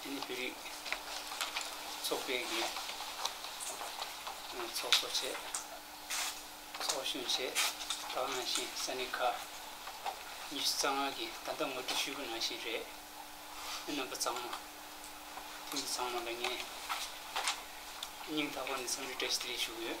དེ་ནི་བོད་རིགས་ཚོགས་པའི་གི་ཚོགས་གཙོ་བཅས་ཚོགས་གཞོན་བཅས་དག་ནང་བཞིན་ས་གནས་ཁག་ཉི་ཤུ་རྩ་ལྔ་གི་ད་ལྟ་ངོ་སྤྲོད་ཞུས་པ་ནང་བཞིན་རེད། མི་རྣམ་པ་ཚང་མ་ཐེངས་འདི་ཚང་མ་ལ་ངས་སྙིང་ཐག་པ་ནས་འཚམས་འདྲི་བཀྲ་ཤིས་བདེ་ལེགས་ཞུ་གི་ཡོད།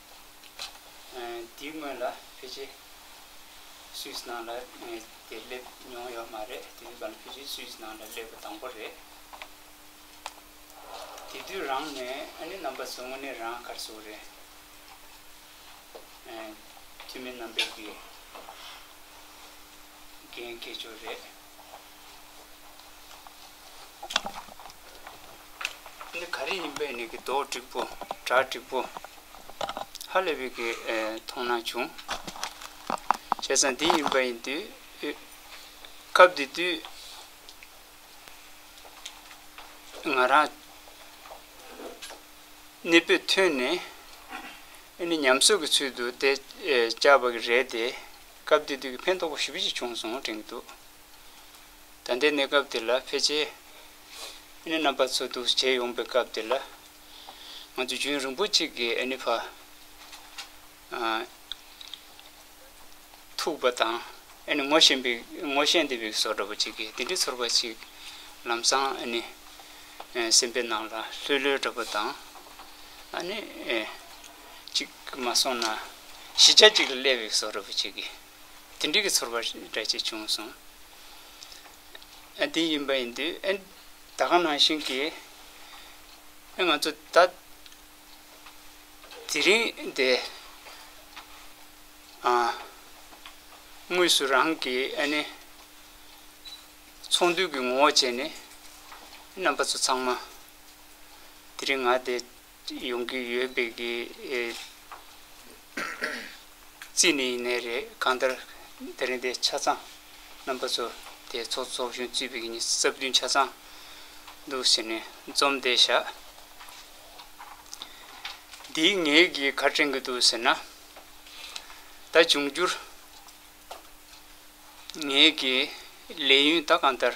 དེའི་སྔོན་ལ་བྷི་ཇེ་སུས་ནང་ལ་དེར་སླེབས་མྱོང་ཡོད་མ་རེད་དེ་དུས་ཀྱང་བྷི་ཇེ་སུས་ནང་ལ་སླེབས་པ་དང་པོ་རེད། དེ་དུས་རང་ནས་ཨ་ནེ་རྣམ་པ་ཚོ་དངོས་གནས་རང་གར་སོང་རེད། འཐུས་མི་རྣམ་པས་དགེ་རྒན་སྐད་ཅོར་རེད། ནི་ག་རེ་ཡིན་པས་ནི་གི་དོགས་དྲིག་པོ་གྲགས་དྲིག་པོ། ཧ་ལས་པའི་གི་མཐོང་སྣང་བྱུང། བྱས་ཙང་འདི་ཡིན་པ་ཡིན་དུས། སྐབས་འདི་དུས། ང་རང། གནས་པས་ཐོན་ནས། ཨེ་ནི་ཉམས་སོད་ཀྱི་ཚུལ་དུ་དེ་བཅའ་བ་གི་རེད་དེ། སྐབས་འདི་དུས་ཀྱི་ཕན་ཐོགས་པོ་ཞིབ་ཅིག་བྱུང་སོང་དྲན་གྱི་འདུག། ད་ལྟའི་གནས་སྐབས་འདི་ལ་ཕལ་ཆེར་ཨེ་ནི་རྣམ་པ་ཚོ་འདུ་བྱེད་ཡོང་པའི་སྐབས་འདི་ལ། ང་ཚོ་རྒྱུན་རིང་པོ་གཅིག་གིས་ཨེ་ནི་བར་ཐུག་པ་དང་ཨེ་ནི་ངོ་ཤེས་འདི་བིག་སོགས་འདྲ་པོ་གཅིག་གིས་འདི་འདྲའི་ཚོར་བ་ཞིག་ལམ་སང་ཨེ་ནི་སེམས་པའི་ནང་ལ་ལྷོད་ལྷོད་འདྲ་པོ་དང། ཨ་ནི། གཅིག་མ་སོང་ན་གཞི་ཆ་གཅིག་ལ་སླེབས་བིག་སོགས་འདྲ་པོ་གཅིག་གིས། དེ་འགྲིག་གི་ཚོར་བ་རེད་ཅེས་བྱུང་སོང། དེ་ཡིན་པ་ཡིན་དུས། ད་ག་ནང་བཞིན་གྱི། ང་ཚོ་ད་དེ་རིང་འདི། དངོས་སུ་རང་གི་ཨ་ནི། ཚོང་དུས་ཀྱི་ངོ་བོ་བྱས་ནས། རྣམ་པ་ཚོ་ཚང་མ། དེ་རིང་ང་དེ། ཅིག་ཡོང་གི་ཡོད་པའི་གི་རྩིས་ནས་ཡིན་ནའི་རེད་གང་ལྟར་དེ་རིང་དེ་ཆ་ཚང་རྣམ་པ་ཚོ་དེ་ཚོགས་ཚོགས་གཞོན་རྩིས་པའི་གི་ཉིས་རྩ་བདུན་ཆ་ཚང་འདུག་ཟེར་ནས་རྩོམ་དེ་བཞག་འདིའི་ངས་གི་ག་དྲན་གི་འདུག་ཟེར་ན། ད་འབྱུང་རྒྱུར་ངས་གི་ལས་ཡུན་ད་གང་ལྟར།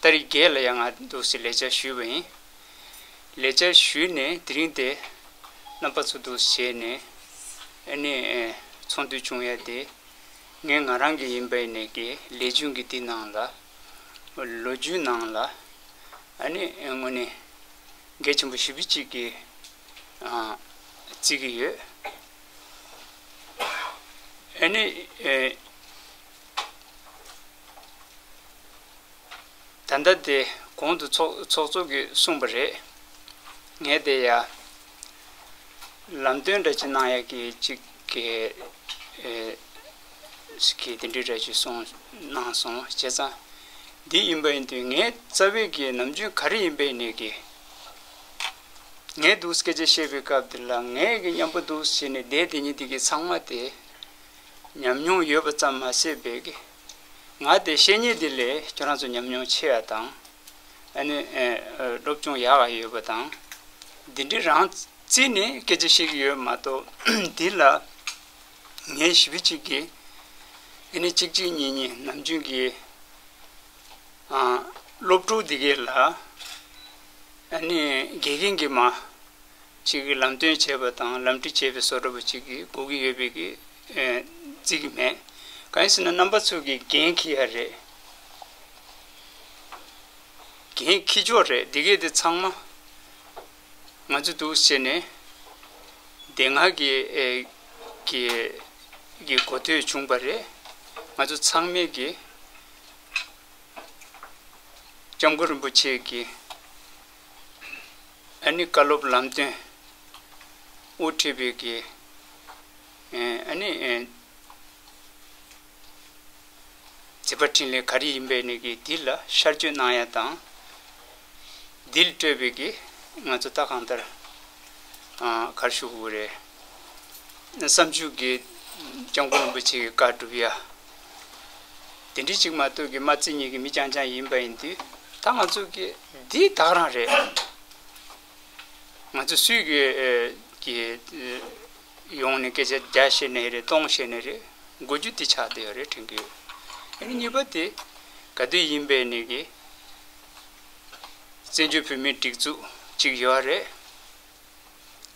རྟ་རི་རྒྱལ་ལ་ཡང་ང་འདུག་སའི་ལས་བྱ་ཞུས་པ་ཡིན། ལས་བྱ་ཞུས་ནས་དེ་རིང་དེ་རྣམ་པ་ཚོ་འདུག་ཟེར་ནས་ཨེ་ནས་ཚོང་དུས་བྱུང་ཡ་དེ་ངས་ང་རང་གི་ཡིན་པ་ཨེ་ནས་ཀྱི་ལས་རྒྱུན་གྱི་དེ་ནང་ལ་ལོ་རྒྱུས་ནང་ལ་ཨེ་ནས་དངོས་ནས་འགས་ཆེན་པོ་བཞི་བུ་གཅིག་གི་རྩིས་ཀྱི་ཡོད། ཨེ་ནས། ད་ལྟ་དེ་གོང་དུ་ཚོགས་གཙོ་གིས་གསུངས་པ་རེད། ངས་དེ་ཡ། ལམ་སྟོན་འདྲ་གཅིག་གནང་ཡ་གི་གཅིག། ཞེས་གིས་དེ་འདྲའི་འདྲ་གཅིག་གསུངས་གནང་སོང་བྱས་ཙང། འདི་ཡིན་པ་ཡིན་དུས་ངའི་རྩ་བའི་གི་ནམ་རྒྱུན་ག་རེ་ཡིན་པའི་ནས་གི། ངའི་འདུག་སྐད་ཆ་བཤད་པའི་སྐབས་དེ་ལ་ངའི་གི་མཉམ་པོ་འདུག་ཟེར་ནས་བསྡད་དེ་ཉིན་དེ་གི་ཚང་མ་དེ། ཉམས་མྱོང་ཡོད་པ་ཙམ་མ་ཟད་པའི་གི་ང་དེ་བཤེས་གཉེན་དེ་ལས་ཁྱོད་རང་ཚོ་ཉམས་མྱོང་ཆེ་བ་དང། ཨ་ནི་སློབ་སྦྱོང་ཡག་ག་ཡོད་པ་དང། འདི་འདྲི་རང་བརྩིས་ནས་སྐད་ཆ་ཞིག་ཡོད་མ་གཏོགས་འདི་ལ་ངའི་བྱིས་པ་གཅིག་གིས་ཨ་ནི་གཅིག་གཅིག་གཉིས་གཉིས་ནམ་རྒྱུན་གྱི་སློབ་ཕྲུག་དེ་གའི་ལ་ཨ་ནི་དགེ་རྒན་གྱིས་མ་གཅིག་གིས་ལམ་སྟོན་བྱེད་པ་དང་ལམ་འཁྲིད་བྱེད་པའི་བཟོ་འདྲ་པོ་གཅིག་གིས་སྒུག་གི་ཡོད་པའི་གི་རྩིས་ཀྱི་མེད། གང་ཡིན་ཟེར་ན་རྣམ་པ་ཚོས་ཀྱི་འགན་འཁྱི་ཡ་རེད། འགན་འཁྱི་ཆོག་རེད་འདི་གས་དེ་ཚང་མ་ང་ཚོ་འདུག་ཟེར་ནས་དེ་སྔ་གི་གི་གི་གོ་ཐོས་བྱུང་པ་རེད། ང་ཚོ་ཚང་མས་གི་ལྕམ་སྐུ་རིན་པོ་ཆེ་གི། ཨ་ནི་བཀའ་སློབ་ལམ་སྟོན། དབུ་ཁྲིད་པའི་དགེ། ཨ་ནི། མཛད་པ་འཕྲིན་ལས་ག་རེ་ཡིན་པའི་ནི་དགེ་འདི་ལ་ཤར་བསྐྱོད་གནང་ཡ་དང། འདི་ལ་སྤྲོད་པའི་དགེ་ང་ཚོ་ལྟ་གང་ལྟར། གར་ཞུ་དགོས་རེད། བསམ་བྱུང་དགེ། སྐྱབས་མགོན་རིན་པོ་ཆེ་གི་བཀའ་བསྒྲུབ་ཡ། དེ་འདྲའི་ཅིག་མ་སྟོད་ཀྱི་མ་རྩི་གཉིས་ཀྱི་མི་རྐྱང་རྐྱང་ཡིན་པ་ཡིན་དུས་ད་ང་ཚོ་གི་འདི་དག་རང་རེད། ང་ཚོ་སུས་ཀྱི་གི་ཡོང་ནས་སྐད་ཆ་བརྒྱ་བཤད་ནས་རེད་སྟོང་བཤད་ནས་རེད་དགོས་རྒྱུ་འདི་ཆགས་བསྡད་ཡོད་རེད་དྲན་གྱི་ཡོད། ཨ་ནི་གཉིས་པ་དེ་ག་དུས་ཡིན་པའི་ནས་གི་བཙན་བྱོལ་བོད་མིའི་སྒྲིག་འཛུགས་ཅིག་ཡོད་རེད།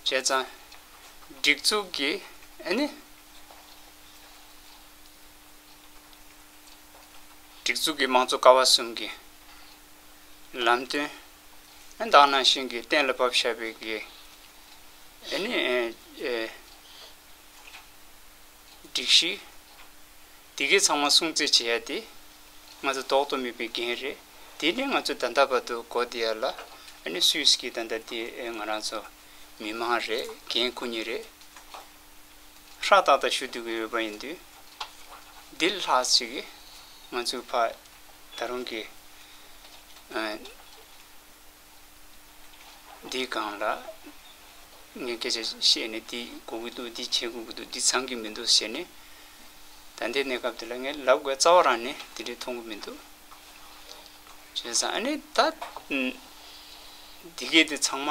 བྱས་ཙང་སྒྲིག་འཛུགས་ཀྱི་ཨ་ནི། སྒྲིག་འཛུགས་ཀྱི་དམངས་གཙོ་ཀ་བ་གསུམ་གྱི་ལམ་སྟོན། བདག་ནང་བཞིན་གྱི་གཏན་ལ་ཕབ་བྱ་བའི་གེགས། སྒྲིག་གཞི། དེ་གའི་ཚང་མ་སྲུང་བརྩི་བྱེད་ཡ་དེ། ང་ཚོ་ལྡོག་ཏུ་མེད་པའི་འགན་རེད། དེ་ནི་ང་ཚོ་ད་ལྟ་བར་དུ་གོ་བསྡད་ཡ་ལ། སུས་ཀྱིས་ད་ལྟ་དེ་ང་རང་ཚོ་མི་དམངས་རེད་འགན་ཁུར་ནི་རེད། ཧྲ་ཏག་ཏག་ཞུ་སྡུག་གི་འོས་པ་ཡིན་དུས། འདི་ལ་ལྷག་ཅིག་ང་ཚོའི་ཕ། ད་རུང་གི། འདིའི་སྒང་ལ། ངས་སྐད་ཆ་བཤད་ནས་འདི་གོ་གི་འདུག་འདི་བྱེད་དགོས་ཀྱི་འདུག་འདི་ཚང་གི་མི་འདུག་ཟེར་ནས། ད་ལྟའི་གནས་སྐབས་འདི་ལ་ངས་ལབ་དགོས་རྩ་བ་རང་ནས་དེ་འདྲའི་མཐོང་གི་མི་འདུག། བྱས་ཙང་ཨ་ནི་ད། འདི་གས་འདི་ཚང་མ།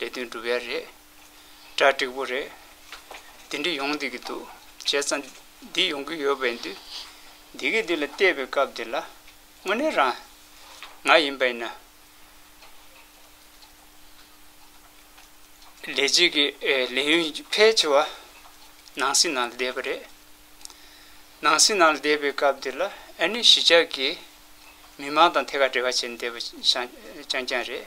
ལས་དོན་སྒྲུབ་ཡ་རེད། གྲ་འགྲིག་པོ་རེད། འདི་འདྲ་ཡོང་སྡིག་གི་འདུག་བྱས་ཙང་འདི་ཡོང་གི་ཡོད་པའི་འདུག་འདི་གི་འདི་ལ་བལྟས་པའི་སྐབས་འདི་ལ་དངོས་གནས་རང་ང་ཡིན་པ་ཡིན་ན། ལས་བྱེད་ཀྱི་ལས་ཡུན་ཕལ་ཆེ་བ་ནང་སྲིད་ནང་ལ་བསྡད་པ་རེད། ནང་སྲིད་ནང་ལ་བསྡད་པའི་སྐབས་འདི་ལ་ཨ་ནི་གཞིས་ཆགས་ཀྱི་མི་མང་དང་ཐད་ཀར་འབྲེལ་བ་བྱས་ནས་བསྡད་པ་རྐྱང་རྐྱང་རེད།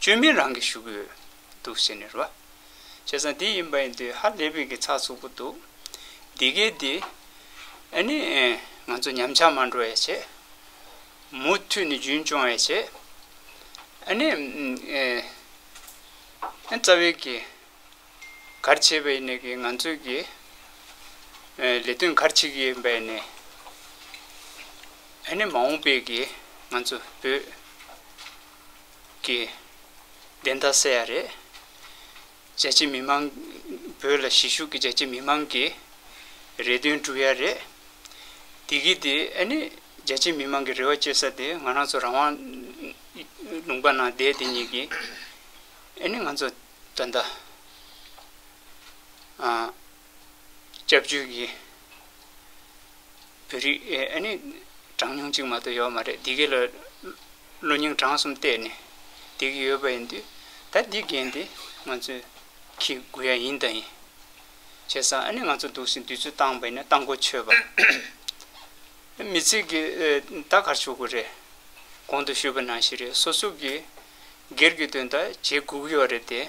བཅོས་མིན་རང་གིས་ཞུ་གི་ཡོད་འདུག་ཟེར་ནས་རོ། བྱས་ཙང་དེ་ཡིན་པ་ཡིན་དུས་ཧ་ལས་པའི་གི་ཚགས་ཚུགས་པོ་འདུག་འདི་གའི་དེ། ཨ་ནི། ང་ཚོ་ཉམས་ཆག་མ་འགྲོ་ཡས་བྱས། མུ་མཐུད་ནས་རྒྱུན་སྐྱོང་ཡས་བྱས། ཨ་ནི། ཨན་རྩ་བའི་གི། གར་བྱས་པ་ཡིན་ནས་གི་ང་ཚོའི་གི། ལས་དོན་གར་བྱེད་གི་ཡིན་པ་ཡིན་ནས། ཨ་ནི་མ་འོངས་པའི་གི་ང་ཚོ་བོད། གི། བདེན་མཐའ་གསལ་ཡ་རེད། རྒྱལ་སྤྱི་མི་མང། བོད་ལ་གཞིས་བཞུགས་ཀྱི་རྒྱལ་སྤྱི་མི་མང་གི། རེ་འདུན་འགྲུབ་ཡ་རེད། དེ་གི་དེ་ཨ་ནི། རྒྱལ་སྤྱི་མི་མང་གི་རེ་བ་བཅོལ་ས་དེ་ང་རང་ཚོ་རང་དབང། ལུང་པ་ན་བསྡད་དེ་ཉིད་ཀྱི། ཨ་ནི་ང་ཚོ་ད་ལྟ། སྐྱབས་བཅོལ་གྱི་བོད་རིགས་ཨ་ནི་གྲངས་ཉུང་གཅིག་མ་གཏོགས་ཡོད་མ་རེད་འདི་གའི་ལ་གློ་སྙིང་བྲང་གསུམ་གཏད་ནས་འདི་གའི་ཡོད་པ་ཡིན་དུས་ད་འདི་འགན་དེ་ང་ཚོས་ཁྱི་དགུ་ཡ་ཡིན་ད་ཡིན་བྱས་སམ་ཨ་ནི་ང་ཚོ་འདུག་སའི་དུས་ཚོད་བཏང་བ་ཡིན་ན་བཏང་གོ་ཆོད་པ་མི་ཚིག་གི་ད་གར་ཆོག་གི་རེད་གོང་དུ་ཞུས་པ་ནང་བཞིན་རེད་སོ་སོ་གི་སྒེར་གྱི་དོན་དག་བྱེད་དགོས་ཀྱི་ཡོད་རེད་དེ།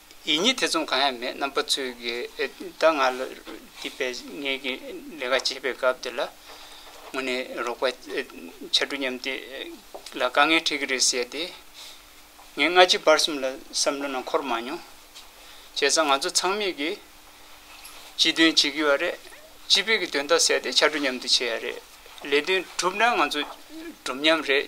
ཡིད་གཉིས་ཐེ་ཚོམ་གང་ཡང་མེད་རྣམ་པ་ཚོས་ཀྱི་ད་ང་ལ་འདི་པས་ངེད་ཀྱི་ལས་ཀ་བྱེད་པའི་སྐབས་འདི་ལ་ངོ་ནས་རོགས་པ་ཆ་དྲུག་མཉམ་དེ་ལ་དཀའ་ངལ་འཕྲད་ཀྱི་རེད་ཟེར་ཏེ། ངས་སྔ་ཕྱི་བར་གསུམ་ལ་བསམ་བློ་ནང་འཁོར་མ་མྱོང། བྱས་ཙང་ང་ཚོ་ཚང་མས་ཀྱི་སྤྱི་དོན་བྱེད་ཀྱི་བ་རེད། སྤྱི་བོད་ཀྱི་དོན་དག་ཟེར་ཏེ་ཆ་དྲུག་མཉམ་དུ་བྱས་ཡ་རེད། ལས་དོན་གྲུབ་ན་ང་ཚོ་གྲུབ་མཉམ་རེད།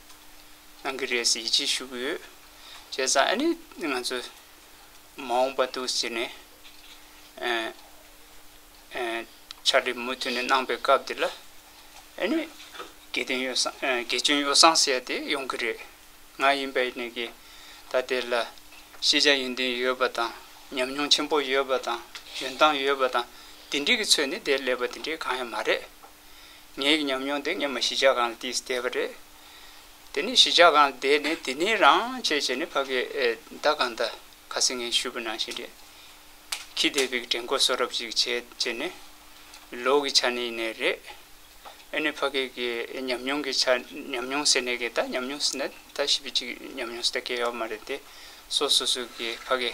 གནང་གི་རེད་ཟེར་ཡིད་ཆེས་ཞུ་གི་ཡོད། བྱས་ཙང་ཨ་ནི་ང་ཚོ་མ་འོངས་པ་འདུག་ཟེར་ནས་ཕྱག་སྒྲིག་མུ་མཐུད་ནས་གནང་པའི་སྐབས་དེ་ལ་ཨ་ནི་དགེ་སྐྱོན་ཡོ་བསྲང་ཟེར་ཡ་དེ་ཡོང་གི་རེད། ང་ཡིན་པའི་ནི་གི་ད་དེ་ལ་ཤེས་བྱ་ཡོན་ཏན་ཡོད་པ་དང་ཉམས་མྱོང་ཆེན་པོ་ཡོད་པ་དང་འཇོན་ཐང་ཡོད་པ་དང་དེ་འདྲི་གི་ཚོད་ནི་དེ་ལས་པ་དེ་འདྲི་གང་ཡང་མ་རེད། ངའི་ཉམས་མྱོང་འདི་ངས་མི་གཞི་ཆགས་ཁང་ལ་བསྡད་བསྡད་པ་རེད། དེ་ནས་གཞི་ཆགས་ཁང་ལ་བསྡད་ནས་དེ་ནས་རང་བྱས་བྱས་ནས་ཕ་གི་ཟླ་གང་ཟླ་ག་ཚོད་ངས་ཤུལ་བུ་ནང་བཞིན་རེད། ཁྱི་ལྟས་བུའི་དྲན་སྐུལ་གསོ་རབ་ཅིག་བྱས་བྱས་ནས། ལོ་གི་ཆ་ནས་ནས་རེད། ཨེ་ནས་ཕ་གི་གི་ཉམས་མྱོང་གི་ཆ་ཉམས་མྱོང་ཟེར་ནས་གི་ད་ཉམས་མྱོང་ཟེར་ན་ད་ཞིབ་པའི་ཅིག་ཉམས་མྱོང་ཟེར་ད་གལ་ཡོད་མ་རེད་དེ། སོ་སོ་སོ་གི་ཕ་གི།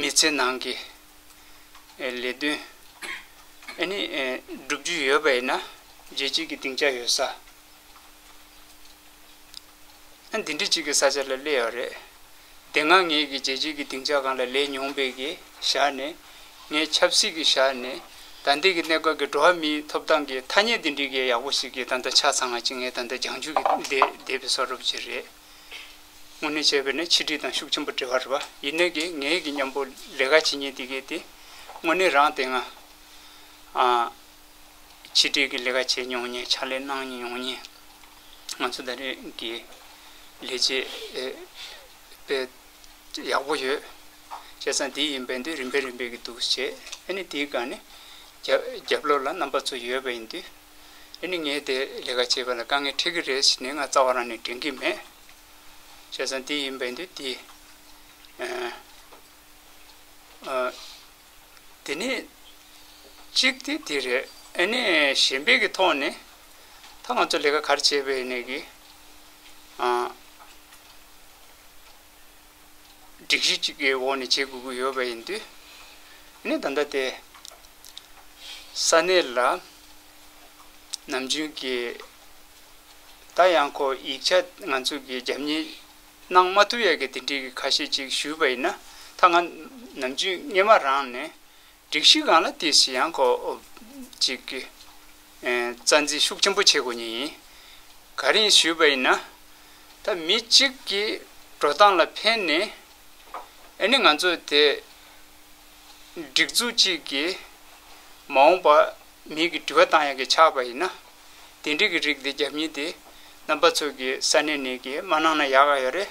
མི་ཚེ་ནང་གི་ལས་དོན་ནི་བསྒྲུབ་རྒྱུ་ཡོད་པ་ཡིན་ན་རྒྱལ་སྤྱིའི་གི་སྡིངས་ཆ་ཡོད་ས། ཨ་འདི་འདྲི་གཅིག་གི་ས་ཆ་ལ་སླེ་ཡོད་རེད། དེ་སྔ་ངས་གི་རྒྱལ་སྤྱིའི་གི་སྡིངས་ཆ་གང་ལ་ལས་མྱོང་པའི་གི་ཞག་ནས་ངས་ཆབ་སྲིད་གི་ཞག་ནས་ད་འདི་གི་གནད་སྐབས་གི་འགྲོ་བ་མིའི་ཐོབ་ཐང་གི་ཐ་སྙད་འདི་འདྲི་གི་ཡག་པོ་ཞིག་གི་ད་ད་ཆ་ཚང་ང་གཅིག་ངས་ད་ད་སྦྱང་རྒྱུ་གི་བསྡད་བསྡད་པའི་སོ་རུབ་ཅིག་རེད། དངོས་གནས་བྱས་པས་ནི་ཆིག་སྒྲིལ་དང་ཤུགས་ཆེན་པོ་འབྲེལ་བ་རེད་པ་ཡིན་ནའི་གི་ངའི་གི་སྙམ་པོ་ལས་ཀ་བྱེད་ཉེན་དེ་གས་ཏེ་དངོས་གནས་རང་དེ་སྔ་ཆིག་སྒྲིལ་གི་ལས་ཀ་བྱས་མྱོང་ཉེན་ཕྱག་ལས་གནང་མྱོང་ཉེན་ང་ཚོ་ད་རེས་གི་ལས་བྱེད་པའི་ཡག་པོ་ཡོད་བྱས་ཙང་དེ་ཡིན་པས་འདི་རིམ་པས་རིམ་པས་གི་འདུག་བྱས་ཨ་ནི་དེའི་སྒང་ནི་རྒྱབ་ལོགས་ལ་རྣམ་པ་ཚོ་ཡོད་པ་ཡིན་དུས། འདི་ནི་ངས་དེ་ལས་ཀ་བྱེད་པ་ལ་དཀའ་ངལ་འཕྲད་ཀྱི་རེད་ཟེར་ནས་ང་རྩ་བ་རང་ནས་དྲན་གྱི་མེད། བྱས་ཙང་དེ་ཡིན་པས་འདུག་དེ། དེ་ནས། གཅིག་དེ་དེ་རེད། ཨ་ནི་གཞན་པའི་གི་ཐོག་ནས། ད་ང་ཚོ་ལས་ཀ་ག་རེ་བྱས་པའི་ནས་གི། སྒྲིག་གཞི་གཅིག་གི་འོག་ནས་བྱེད་དགོས་ཀྱི་ཡོད་པ་ཡིན་དུས། ནི་ད་ལྟ་དེ། ས་གནས་ལ། ནམ་རྒྱུན་གྱི། ད་ཡང་ཁོ་ཡིག་ཆ་ང་ཚོས་ཀྱི་རྒྱབ་གཉེར། གནང་མ་ཐུབ་ཡ་གི་དེ་འདྲིའི་གི་ཁ་ཤས་ཅིག་ཞུས་པ་ཡིན་ན། ད་ང། ནམ་རྒྱུན་སྔས་མ་རང་ནས། སྒྲིག་གཞི་གང་ལ་དེ་བཞིན་ཡང་ཁོ། ཅིག་གིས། རྩ་འཛིན་ཤུགས་ཆེན་པོ་བྱེད་དགོས་ངེས་ཡིན། ག་རེ་ཡིན་ཞུས་པ་ཡིན་ན། ད་མི་གཅིག་གི་འགྲོ་སྟངས་ལ་ཕན་ནི། ཨེ་ནི་ང་ཚོ་དེ། སྒྲིག་འཛུགས་གཅིག་གིས། མ་འོངས་པ་མིའི་གི་དྲི་བ་བཏང་ཡག་གི་ཆགས་པ་ཡིན་ན། དེ་འདྲི་གི་རིགས་དེ་རྒྱབ་གཉིས་དེ། རྣམ་པ་ཚོ་གི་ས་ནས་ནས་གི་མ་གནང་ན་ཡག་ག་ཡོད་རེད།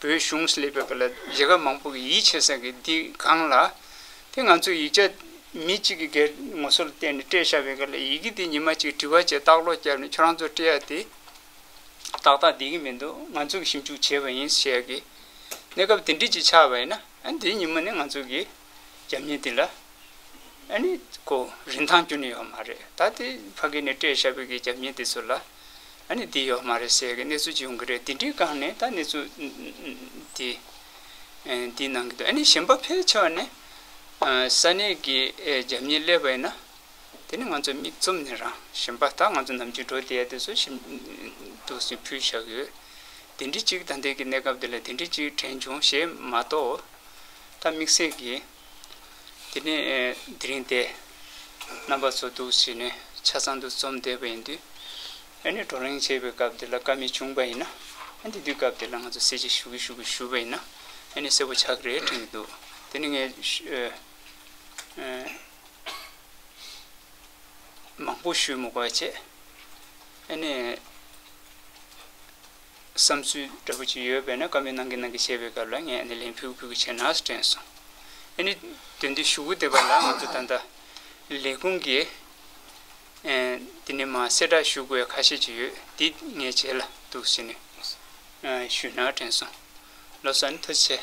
བོད་གཞུང་སླེབས་པའི་སྐབས་ལ་རྒྱལ་ཁབ་མང་པོ་གི་ཡིད་ཆེས་ས་གི་འདི་སྒང་ལ། དེ་ང་ཚོས་ཡིག་ཆ་མི་གཅིག་གི་སྒེར་ངོ་སོ་ལ་བརྟེན་ནས་སྤྲད་བཞག་པའི་སྐབས་ལ་ཡི་གེ་འདི་ཉི་མ་གཅིག་བྲི་བ་བཅས་བརྟག་ཀློག་བརྒྱབ་ནས་ཁྱོད་རང་ཚོར་སྤྲད་ཡག་དེ། ཏག་ཏག་བསྡད་ཀྱི་མི་འདུག་ང་ཚོས་ཞིབ་འཇུག་བྱས་པ་ཡིན་ཞེས་ཀྱི། གནས་སྐབས་དེ་འདྲིས་ཅིག་ཆགས་པ་ཡིན་ན། འདི་ཉི་མ་ནི་ང་ཚོ་གི། རྒྱབ་གཉེར་དེ་ལ་ཨ་ནི་ཀོ་རིན་ཐང་རྒྱུ་ནི་ཡོད་མ་རེད་ད་དེ་ཕ་གི་ནི་ཀྲེ་ཤ་བོད་ཀྱི་རྒྱབ་གཉེར་དེ་ཚོ་ལ་ཨ་ནི་དེ་ཡོད་མ་རེད་ཟེར་གི་གནས་ཚུལ་ཅིག་ཡོང་གི་རེད་དེ་འདྲི་གང་ནས་ད་གནས་ཚུལ་དེ་འདི་གནང་གི་འདུག་ཨ་ནི་གཞན་པ་ཕལ་ཆེ་བ་ནི་ས་གནས་ཀྱི་རྒྱབ་གཉེར་སླེབས་པ་ཡིན་ན་དེ་ནི་ང་ཚོ་མིག་བཙུམ་ནས་རང་གཞན་པ་ད་ང་ཚོ་ནམ་རྒྱུན་འགྲོ་བསྡད་ཡ་དེ་ཚོ་ཞིབ་ཏུ་ཞིག་ཕུལ་བཞག་ཡོད་དེ་འདྲི་གཅིག་ད་ལྟའི་གི་གནས་སྐབས་དེ་ལ་དེ་འདྲི་གཅིག་དྲན་བྱུང་ཞེས་མ་གཏོགས། ད་དམིགས་བསལ་གྱིས་དེ་ནས་དེ་རིང་དེ་རྣམ་པ་ཚོ་འདུག་བྱས་ནས་ཆ་ཚང་དུ་འཛོམས་བསྡད་པ་ཡིན་དུས། ཨ་ནེ་བགྲོ་གླེང་བྱེད་པའི་སྐབས་དེ་ལ་དཀའ་མེད་བྱུང་པ་ཡིན་ན། དེ་དུས་སྐབས་དེ་ལ་ང་ཚོ་གསལ་བྱེད་ཞུ་གི་ཞུ་གི་ཞུས་པ་ཡིན་ན་ཨ་ནེ་གསལ་པོ་ཆགས་ཀྱི་རེད་དྲན་གྱི་འདུག་དེ་ནི་ངས་མང་པོ་ཞུས་མི་དགོས་བྱས་ཨ་ནེ། བསམ་ཚུལ་འདྲ་པོ་ཅིག་ཡོད་པས་ན་སྐབས་མི་སྣང་གི་སྣང་གི་བཤད་པའི་སྐབས་ལ་ངས་ཨ་ནི་ལན་ཕུལ་ཕུལ་གི་བྱས་ན་ཟེར་དྲན་སོང། ཨ་ནི་དོན་དུ་ཞུ་གུ་འདེབས་པ་ལ་ང་ཚོ་ད་ལྟ་ལས་ཁུངས་ཀྱི་དེ་ནི་མ་གསལ་དྲག་ཞུགས་པའི་ཁ་ཤས་ཅིག་ཡོད་འདི་ངས་བྱས་ལ་འདུག་ཟེར་ནས་ཞུས་ན་དྲན་སོང། ལོ་སར་ནི་མཐོ་ཚད།